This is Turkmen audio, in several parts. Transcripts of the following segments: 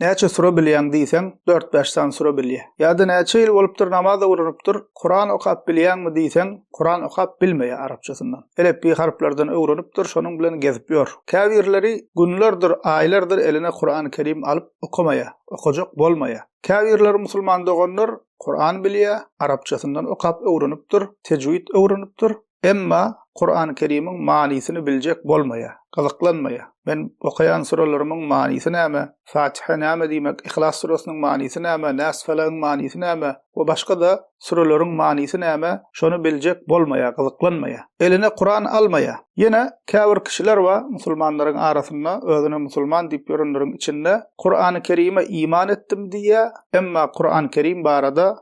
Näçe sure bilýäň diýseň, dört-bäş sany sure bilýä. Ýa-da näçe ýyl bolupdyr namaz öwrenipdir, Kuran okap bilýäňmi diýseň, Kuran okap bilmeýä arapçasyndan. Elepbiý harplardan öwrenipdir, şonuň bilen gezip ýör. Käbirleri günlerdir, aýlardyr eline Kurany Kerim alyp okamaýa, okajak bolmaýa. Käbirleri musulman doganlar Kuran bilýä, arapçasyndan okap öwrenipdir, tejwid öwrenipdir, Emma Kurany Kerimiň manysyny biljek bolmaýar, gyzyklanmaýar. Men okaýan sürelerimiň manysy näme, Fatiha näme diýmek, Yhlas süresiniň manysy näme, Nas Felagyň manysy näme we başga-da süreleriň manysy näme, şony biljek bolmaýar, gyzyklanmaýar. Eline Kuran almaýar. Ýene käbir kişiler bar, musulmanlaryň arasynda, özüne musulman diýip ýörenleriň içinde Kurany Kerime iman etdim diýýär, emma Kurany Kerim barada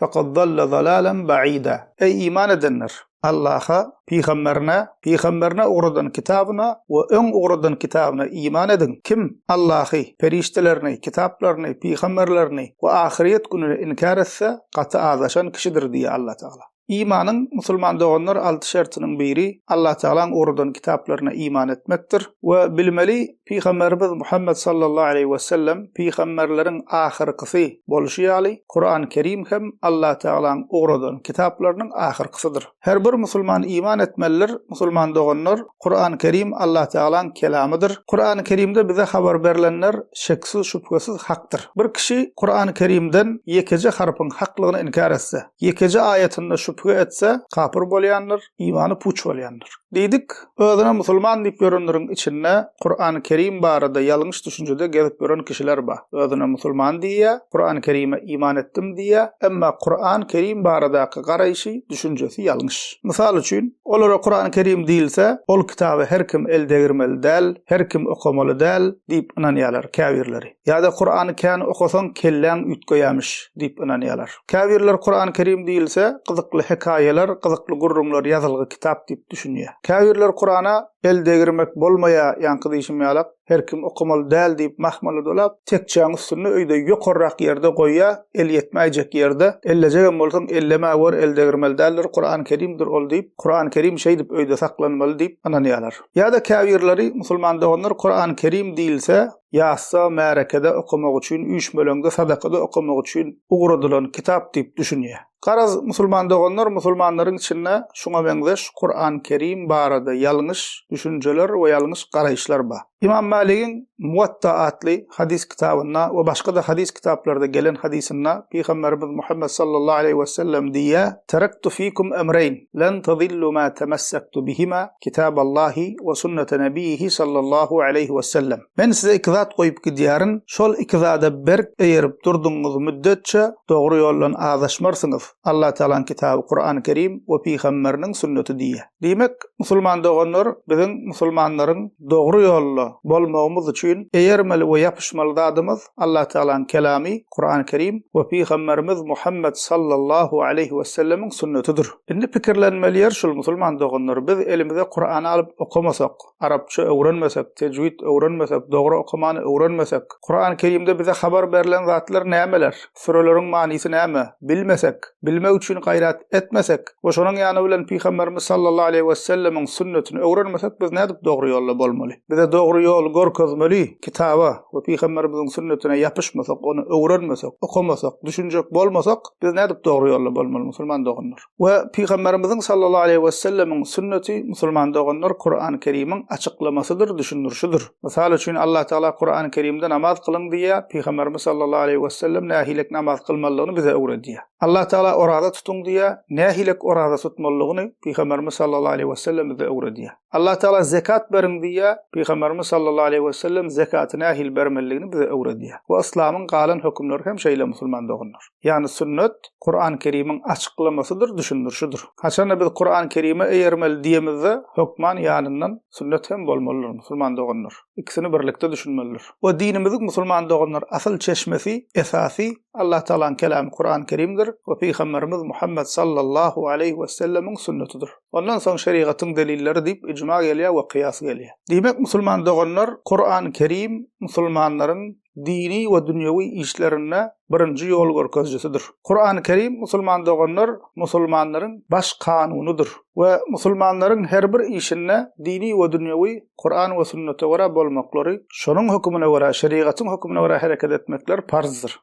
Fekad dalla dalalan baida. Eý iman edenler! Allaha, Pygamberine, Pygamberine ugradan kitabyna we öň ugradan kitabyna iman ediň. Kim, Allahy, perişdelerini, kitaplaryny, pygamberlerini we ahyrýet gününi inkär etse, gaty azaşan kişidir diýýär Allatagala. Imanyň, musulman doganlar, alty şertiniň biri, Allatagalaň ugradan kitaplaryna iman etmekdir we bilmeli, Pygamberimiz Muhammet sallallahu aleýhi we sellem pygamberleriň ahyrkysy boluşy ýaly, Kuran Kerim hem Allah Tagalaň ugradan kitaplarynyň ahyrkysydyr. Her bir musulman iman etmelidir, musulman doganlar, Kuran Kerim Allah Tagalaň kelamydyr. Kuran Kerimde bize habar berlenler şeksiz şübhesiz hakdyr. Bir kişi Kuran Kerimden ýekeje harpyň haklygyny inkär etse, ýekeje aýatynda şübhe etse, kapyr bolýandyr. imany puç bolýandyr. Diýdik, özüne musulman diýip ýörenleriň içinde Kurany Kerim barada ýalňyş düşünjede gezip ýören kişiler bar. Özüne musulman diýýä, Kurany Kerime iman etdim diýýä, emma Kurany Kerim baradaky garaýşy, düşünjesi ýalňyş. Mysal üçin, olara Kurany Kerim diýilse, ol kitaby her kim el degirmeli däl, her kim okamaly däl diýip ynanýarlar käbirleri. Ýa-da Kurany kän okasaň kelläň üýtgeýämiş diýip ynanýalar. Käbirler Kurany Kerim diýilse, gyzykly hekaýalar, gyzykly gürrüňler ýazylgy kitap diýip düşünýä. Käbirler Kurana el degirmek bolmaýa ýaňky diýşim ýalak, her kim okamaly däl diýip mahmyly dolap, tekjäň üstünde öýde ýokarrak ýerde goýýa, el ýetmäýjek ýerde, ellejegem bolsaň ellemäwer el degirmeli däldir, Kurany Kerimdir ol diýip, Kurany Kerim şeýdip öýde saklanmaly diýip ynanýalar. Ýa-da käbirleri, musulman doganlar Kurany Kerim diýilse, ýasda, märekede okamak üçin, üýşmeleňde, sadakada okamak üçin ugradylan kitap diýip düşünýär. Garaz, musulman doganlar, musulmanlaryň içinde şuňa meňzeş Kuran Kerim barada ýalňyş düşünjeler we ýalňyş garaýyşlar bar. Ymam Maligiň Muwatta atly hadys kitabynda we başga-da hadys kitaplarda gelen hadysynda Pygamberimiz Muhammet sallallahu aleýhi wesellem diýýär, Terektu fikum emreýn, len tezillu ma temessaktu bihima, Kitaballahi we sünnete Nebiýihi sallallahu aleýhi wessellem. Men size iki zat goýup gidýärin, şol iki zada berk eýerip durdugyňyz müddetçe dogry ýoldan azaşmarsyňyz, Allatagalaň kitaby Kurany Kerim we pygamberiniň sünneti diýýär. Diýmek, musulman doganlar, biziň musulmanlaryň dogry ýolda bolmagymyz üçin eýermeli we ýapyşmaly zadymyz, Allatagalanyň Kelamy, Kurany Kerim, we Pygamberimiz Muhammet sallallahu aleýhi wesellemiň sünnetidir. Indi pikirlenmeli ýer şul musulman doganlar, biz elimize Kurany alyp okamasak, arapça öwrenmesek, tejwid öwrenmesek, dogry okamany öwrenmesek, Kurany Kerimde bize habar berlen zatlar nämeler, süreleriň manysy näme, bilmesek, bilmek üçin gaýrat etmesek we şonuň ýany bilen Pygamberimiz sallallahu aleýhi wesellemiň sünnetini öwrenmesek biz nädip dogry ýolda bolmaly? Bize dogry ýoly görkezmeli Kitaba we Pygamberimiziň sünnetine ýapyşmasak, ony öwrenmesek, okamasak, düşünjek bolmasak, biz nädip dogry ýolda bolmaly musulman doganlar? We Pygamberimiziň sallallahu aleýhi wesellemiň sünneti musulman doganlar Kurany Kerimiň açyklamasydyr, düşündirişidir. Mysal üçin Allah Tagala Kurany Kerimde namaz kylyň diýýär, Pygamberimiz sallallahu aleýhi wesellem nähilek namaz kylmalyny bize öwredýär. Allah Tagala oraza tutuň diýýär, nähilek oraza tutmalyny Pygamberimiz sallallahu aleýhi wesellem bize öwredýär. Allah Taala zekat beriň diýýär, Pygamberimiz sallallahu aleýhi we sellem zekaty nähili bermelidigini bize öwredýär. We yslamyň galan hökümleri hem şeýle musulman doganlar. Ýagny sünnet Kurany Kerimiň açyklamasydyr, düşündirişidir. Haçanda biz Kurany Kerime eýermeli diýemizde hökman ýanyndan sünnet hem bolmalydyr musulman doganlar. Ikisini birlikde düşünmelidir. We dinimiziň musulman doganlar asyl çeşmesi, esasy Allah Taalanyň kelamy Kurany Kerimdir we Pygamberimiz Muhammet sallallahu aleýhi we sellemiň sünnetidir. Ondan soň şerigatyň delilleri diýip ijma gelýär we kyýas gelýär. Diýmek musulman doganlar Kurany Kerim musulmanlaryň dini we dünýewi işlerinde birinji ýol görkezjisidir. Kurany Kerim musulman doganlar musulmanlaryň baş kanunydyr we musulmanlaryň her bir işinde dini we dünýewi Kuran we sünnete görä bolmaklary şonuň hökümine görä şerigatyň hökümine görä hereket etmekler parzdyr.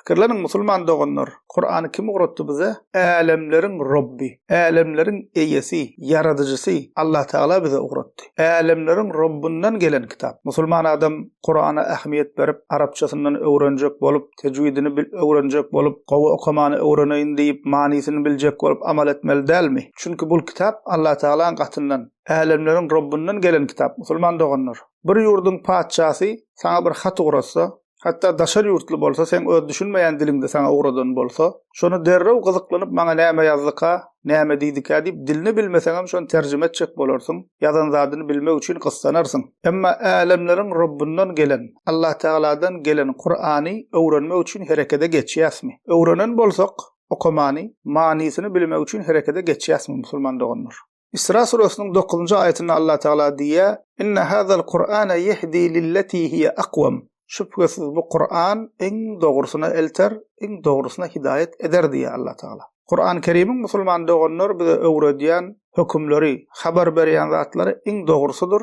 Pikirleniň musulman doganlar, Kurany kim ugratdy bize? Älemleriň Robbi, Älemleriň Eýesi, Ýaradyjysy Allah Tagala bize ugratdy. Älemleriň Robbundan gelen kitap. Musulman adam Kurana ähmiýet berip, arapçasyndan öwrenjek bolup, tejwidini bil öwrenjek bolup, gowy okamany öwreneýin diýip, manysyny biljek bolup amal etmeli dälmi? Çünki bul kitap Allah Tagalaň gatyndan, Älemleriň Robbundan gelen kitap, musulman doganlar. Bir ýurduň patyşasy saňa bir hat ugratsa, Hatda daşary ýurtly bolsa, seň öz düşünmeýän diliňde saňa ugradan bolsa, şony derrew gyzyklanyp maňa näme ýazdyka, näme diýdikä diýip dilini bilmeseňem şony terjime etjek bolarsyň, ýazan zadyny bilmek üçin gyssanarsyň. Emma Älemleriň Rabbyndan gelen, Allatagaladan gelen Kurany öwrenmek üçin herekede geçýäsmi? Öwrenen bolsak, okamany, manysyny bilmek üçin herekede geçýäsmi musulman doganlar? Isra suresiniň dokuzynjy aýatynda Allah Tagala diýýär, Inne hazal Kur'ane yehdi lilleti hiye akwam. Şübhesiz bu Kur'an iň dogrusyna elter, iň dogrusyna hidaýat eder diýýär Allah Tagala. Kur'an Kerimiň musulman doganlar bize öwredýän hökümleri, habar berýän zatlary iň dogrusydyr,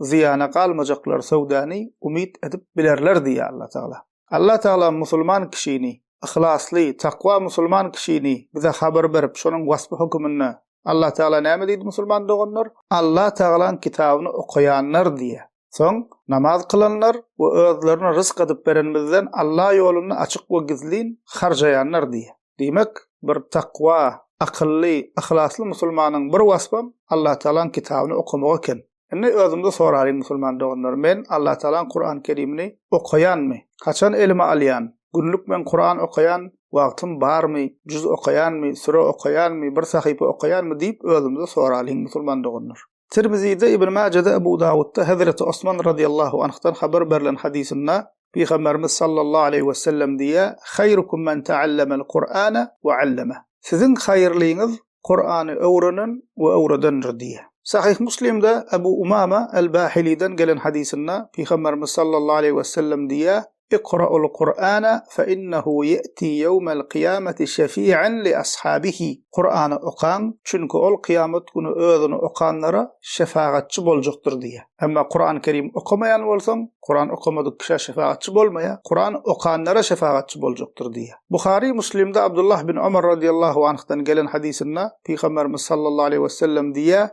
zyýana galmajaklar söwdäni umyt edip bilerler diýýär Alla Tagala. Alla Tagala musulman kişini, yhlasly, takwa musulman kişini bize habar berip şonuň waspy höküminde Alla Tagala näme diýdi musulman doganlar, Alla Tagalaň kitabyny okaýanlar diýýär. Soň namaz kylanlar we özlerine rysk adyp berenimizden Alla ýolunda açyk we gizlin harjaýanlar diýýär. Diýmek, bir takwa, akylly, yhlasly musulmanyň bir waspam Allatagalaň kitabyny okamak eken. Indi özümize soralyň musulman doganlar, men Allatagalaň Kurany Kerimini okaýanmy? Haçan elime alýan? Günlük men Kuran okaýan wagtym barmy? Juz okaýanmy? Süre okaýanmy? Bir sahypa okaýanmy? diýip özümize soralyň musulman doganlar. Tirmizide, Ibn Majede, Ebu Dawudda Hezreti Osman radyýallahu anhdan habar berlen hadysynda Pygamberimiz sallallahu aleýhi wesellem diýýär, Haýrukum men ta'allamel Kur'ane we allameh. Siziň haýyrlyňyz Kur'any öwrenen we öwredendir diýýär. Sahyh Muslimde Ebu Umama el-Bahiliden gelen hadysynda Pygamberimiz sallallahu aleýhi wesellem diýýär, Ikra'ul Kur'ana fe innehu ye'ti yevmel kıyameti şefi'en li ashabihi, Kur'any okaň, çünki ol kyýamat güni özüni okanlara şefagatçy boljakdyr diýýär. Emma Kur'an Kerim okamaýan bolsaň, Kur'an okamadyk kişä şefagatçy bolmaýar, Kur'an okanlara şefagatçy boljakdyr diýýär. Buhary, Muslimde Abdullah bin Omar radiyallahu anhdan gelen hadysynda Pygamberimiz sallallahu aleýhi wesellem diýýär,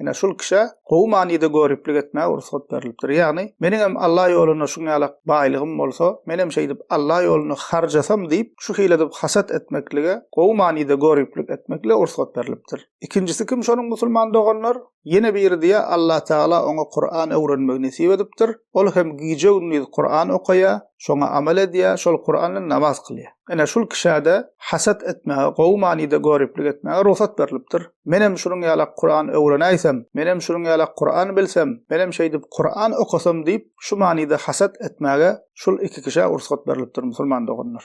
Ine, şul kişä gowy manyda göriplik etmäge rugsat berlipdir. Ýagny, meniň hem Alla ýolunda şuň ýalak baýlygym bolsa, men hem şeýdip Alla ýolunda harjasam diýip, şu hili edip hasat etmeklige, gowy manyda göriplik etmeklige rugsat berlipdir. Ikinjisi kim şonuň musulman doganlar? Ýene biri diýýär, Allatagala oňa Kuran öwrenmegi nesip edipdir. Ol hem gije-gündiz Kuran okaýar, şoňa amal edýär, şol Kuran bilen namaz kylýar. Ine, şul kişä-de hasat etmäge, gowy manyda göriplik etmäge rugsat berlipdir. Menem şunuň ýalak Kuran öwrenäýsem, menem şunuň ýalak Kuran bilsem, menem şeýdip Kuran okasam diýip, şu manyda hasat etmäge şul iki kişä rugsat berlipdir, musulman doganlar.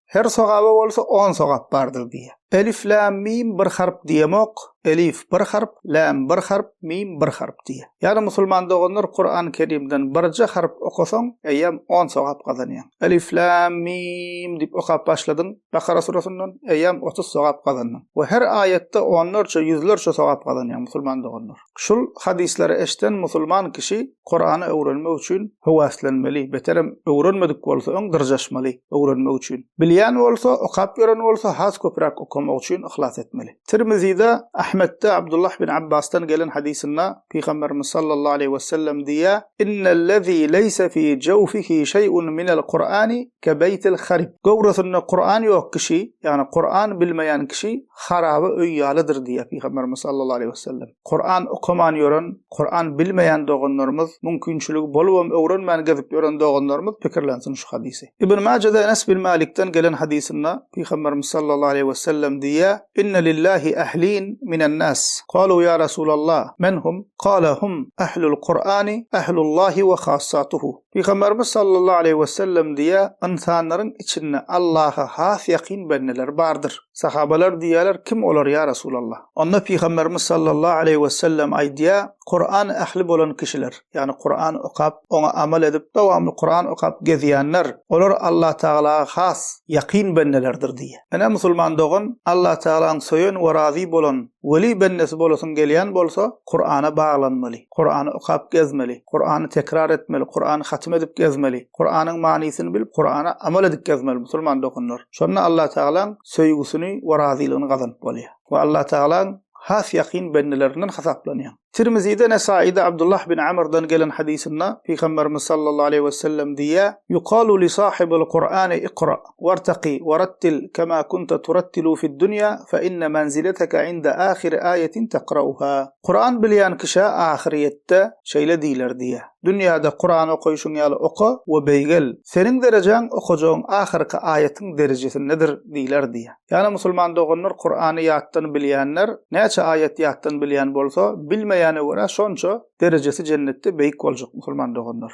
Her sogaba bolsa on sogap bardyr diýýär. Elif lam mim bir harp diýemok, elif bir harp, lam bir harp, mim bir harp diýýär. Ýagny musulman doganlar Kurany Kerimden birje harp okasaň, eýýäm on sogap gazanýaň. Elif lam mim diýip okap başladyň Bakara surasyndan, eýýäm otuz sogap gazandyň. We her aýatda onlarça, ýüzlerçe sogap gazanýaň musulman doganlar. Şul hadyslary eşden musulman kişi Kurany öwrenmek üçin höwäslenmeli, beterem öwrenmedik bolsa öň dyrjaşmaly, öwrenmek üçin. Bilýän bolsa, okap ýören bolsa has köpräk okamak üçin yhlas etmeli. Tirmizide, Ahmetde Abdullah bin Abbasdan gelen hadysynda Pygamberimiz sallallahu aleýhi wesellem diýýär, Innellezî leýse fî jawfihi şeý'un minel Kur'ani kebeýtil harib. Göwresinde Kur'an ýok kişi, ýagny Kur'an bilmeýän kişi Haraby öý ýalydyr diýýär Pygamberimiz sallallahu aleýhi we sellem. Kuran okaman ýören, Kuran bilmeýän doganlarymyz, mümkinçiligi bolubam öwrenmän gezip ýören doganlarymyz pikirlensin şu hadysy. Ibn Majede Enes bin Malikden gelen hadysynda Pygamberimiz sallallahu aleýhi we sellem diýýär, Inne lillahi ahlin minen nas. Kalu ýa Rasulallah, men hum? Kala hum ahlul Kurani, ahlullahi we hassatuhu. Pygamberimiz sallallahu aleýhi we sellem diýýär, Ynsanlaryň içinde Allaha has ýakyn bendeler bardyr. Sahabalar diýýärler, Kim olar, ýa Resulallah? Onda Pygamberimiz sallallahu aleýhi we sellem aýdýar, Kuran ähli bolan kişiler, ýagny Kuran okap, oňa amal edip, dowamly Kuran okap gezýänler, olar Allatagalaga has ýakyn bendelerdir diýýär. Ine, musulman dogan, Allatagalaň söýen we razy bolan weli bendesi bolasyň gelýän bolsa, Kurana baglanmaly. Kurany okap gezmeli, Kurany tekrar etmeli, Kurany hatym edip gezmeli, Kuranyň manysyny bilip Kurana amal edip gezmeli musulman doganlar. Şonda Allah Tagalaň söýgüsini we razylygyny gazanyp bolýar we Allah Tagalaň has ýakyn bendelerinden hasaplanýar. Tirmizide, Nesaide Abdullah bin Amrdan gelen hadysynda Pygamberimiz sallallahu aleýhi wesellem diýýär, Yukalu li sahibil Kurani ikra. Wartaqi, warattil, kema kunta turattilu fid dunýa, fe inne manzileteke inde ahiri aýetin tekrauha. Kuran bilýän kişä ahyryýetde şeýle diýler diýýär, Dünýäde Kuran okaýşyň ýaly oka we beýgel, seniň derejäň okajagyň ahyrky aýetiň derejesindedir diýler diýýär. Ýagny musulman doganlar Kurany ýatdan bilýänler, näçe aýet ýatdan bilýän bolsa, bilmeýäne görä şonça derejesi jennetde beýik boljak musulman doganlar.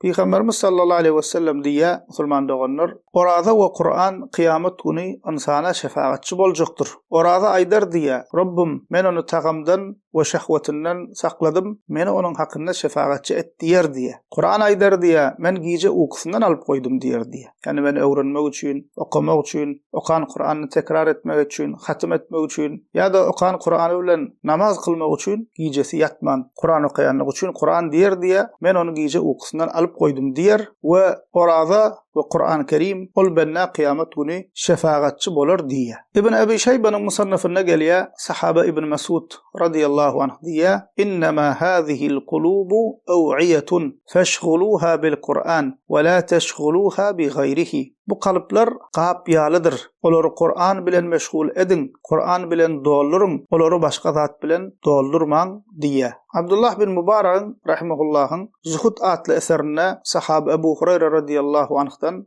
Pygamberimiz sallallahu aleýhi we sellem diýýär, Musulman doganlar, oraza we Kuran kyýamat güni ynsana şefagatçy boljakdyr. Oraza aýdar diýýär, Robbym, men ony tagamdan we şehwetinden sakladym, meni onuň hakynda şefagatçy et diýer diýýär. Kuran aýdar diýýär, men gije ukusyndan alyp goýdum diýer diýýär. Ýagny men öwrenmek üçin, okamak üçin, okan Kuranyny tekrar etmek üçin, hatym etmek üçin ýa-da okan Kurany bilen namaz kylmak üçin gijesi ýatman, Kuran okaýanlygy üçin Kuran diýer diýýär, men ony gije ukusyndan alyp goýdum diýer we oraza we Kurany Kerim ol bendä kyýamat güni şefagatçy bolar diýýär. Ibn Ebi Şeýbanyň Musannafynda gelýär, sahaba Ibn Mesud, radiyallahu anh, diýýär, Innema hazihil kulubu ew'iýetun, Feşguluha bil Kur'an we la teşguluha bi gaýrihi, Bu kalplar gap ýalydyr, olary Kur'an bilen meşgul ediň, Kur'an bilen dolduryň, olary başga zat bilen doldurmaň diýýär. Abdullah bin Mubaragyň rahimahullahyň Zuhud atly eserinde sahaba Ebu Hureýre radiyallahu anhdan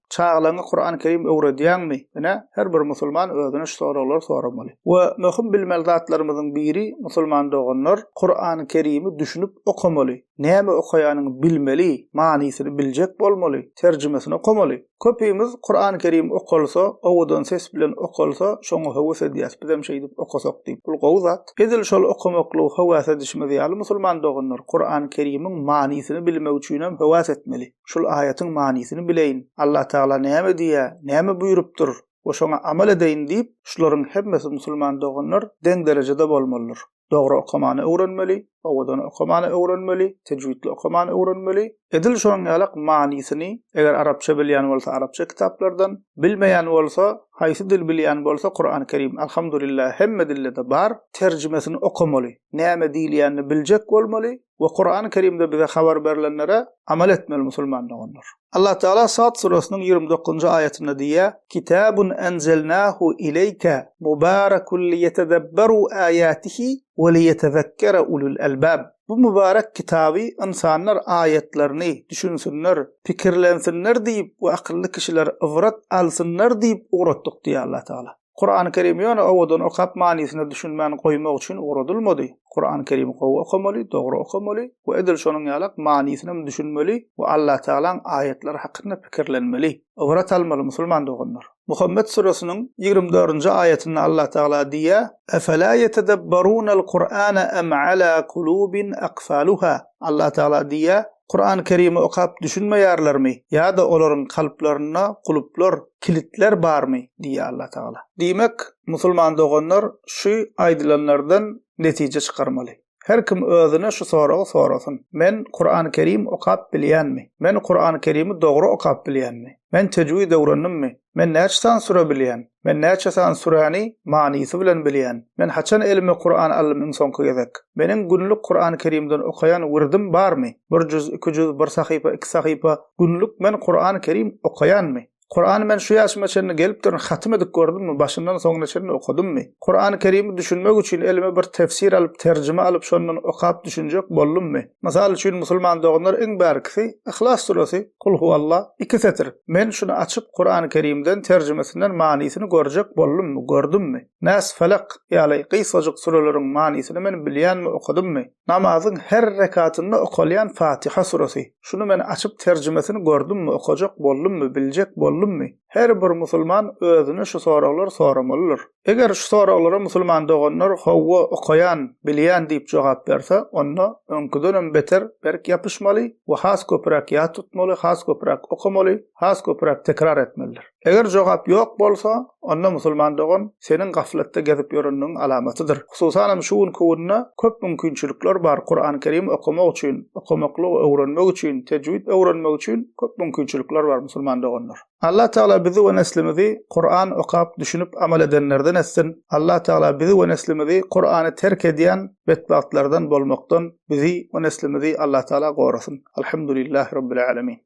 Çagalaňňa Kuran Kerim öwredýäňmi? Ine, her bir musulman özüne şu soraglary soramaly. We möhüm bilmeli zatlarymyzyň biri, musulman doganlar, Kuran Kerimi düşünip okamaly. Näme okaýanyny bilmeli, manysyny biljek bolmaly, terjimesini okamaly. Köpimiz Kuran Kerim okalsa, owadan ses bilen okalsa, şoňa höwes edýäs, bizem şeýdip okasak diýip. Bul gowy zat. Edil şol okamaklygy höwäs edişimiz ýaly musulman doganlar Kuran Kerimiň manysyny bilmek üçinem höwäs etmeli. şul aýatyň manysyny bileýin, Allatagala näme diýýär, näme buýrupdyr we şoňa amal edeýin diýip, şularyň hemmesi musulman doganlar deň derejede bolmalydyr. Dogry okamany öwrenmeli, owadan okamany öwrenmeli, tejwidli okamany öwrenmeli, edil şonuň ýalak manysyny, eger arapça bilýän bolsa arapça kitaplardan, bilmeýän bolsa, haýsy dil bilýän bolsa Kurany Kerim Alhamdulillah hemme dillede bar, terjimesini okamaly, näme diýilýänini biljek bolmaly, we Kurany Kerimde bize habar berlenlere amal etmeli musulman doganlar. Allah Taala Sad suresiniň ýigrimi dokuzynjy aýatynda diýýär, Kitabun enzelnahu ileýke mubarakun liýetedebberu aýatihi we liýetezekkere ulul elbab. Bu mübarek kitaby ynsanlar aýatlaryny düşünsinler, pikirlensinler diýip we akylly kişiler ybrat alsynlar diýip ugratdyk diýýär Allah Taala. Kurany Kerim ýöne owadan okap manysyna düşünmän goýmak üçin ugradylmady. Kurany Kerimi gowy okamaly, dogry okamaly we edil şonuň ýalak manysynam düşünmeli we Allatagalaň aýatlary hakynda pikirlenmeli. Ybrat almaly musulman doganlar. Muhammet suresynyň ýigrimi dördünji aýatynda Allatagala diýýä, Efela yetedebbarunel Kur'ane em ala kulubin akfaluha? Allatagala diýýä, Kurany Kerimi okap düşünmeýärlermi ýa-da olaryň kalplarynda guluplar, kilitler barmy? diýýär Allatagala. Diýmek, musulman doganlar şu aýdylanlardan netije çykarmaly. Her kim özüne şu soragy sorasyn, Men Kurany Kerim okap bilýänmi? Men Kurany Kerimi dogry okap bilýänmi? Men tejwid öwrendimmi? Men näçe sany süre bilýän? Men näçe sany süräni manysy bilen bilýän? Men haçan elime Kuran aldym iň soňky gezek? Meniň günlük Kurany Kerimden okaýan wirdim barmy? Bir juz, iki juz, bir sahypa, iki sahypa, Günlük men Kurany Kerim okaýanmy? Kurany men şu ýaşyma çenli gelip durun hatym edip gördümmi, başyndan soňuna çenli okadymmy? Kurany Kerimi düşünmek üçin elime bir tefsir alyp, terjime alyp şondan okap düşünjek boldummy? Mysal üçin musulman doganlar iň bärkisi Yhlas suresi, Kul huwalla, iki setir. Men şuny açyp Kurany Kerimden terjimesinden manysyny görjek boldummy, gördümmi? Nas, Felak ýaly gysgajyk sureleriň manysyny men bilýänmi, okadymmy? Namazyň her rekatynda okalýan Fatiha suresi. Şuny men açyp terjimesini gördümmi, okajak boldummy, biljek boldummy? Her bir musulman özüne şu soraglary soramalydyr. Eger şu soraglara musulman doganlar Howwa, okaýan, bilýän diýip jogap berse, onda öňküdenem beter berk ýapyşmaly we has köpräk ýat tutmaly, has köpräk okamaly, has köpräk tekrar etmelidir. Eger jogap ýok bolsa, onda musulman dogan seniň gaflatda gezip ýörendigiň alamatydyr. Hususanam şu günki günde köp mümkinçilikler bar Kuran Kerim okamak üçin, okamaklygy öwrenmek üçin, tejwid öwrenmek üçin köp mümkinçilikler bar musulman doganlar. Allah Tagala bizi we neslimizi Kuran okap düşünip amal edenlerden etsin, Allah Tagala bizi we neslimizi Kurany terk edýän betbagtlardan bolmakdan bizi we neslimizi Allah Tagala gorasyn. Alhamdulillahi Rabbil Alemin.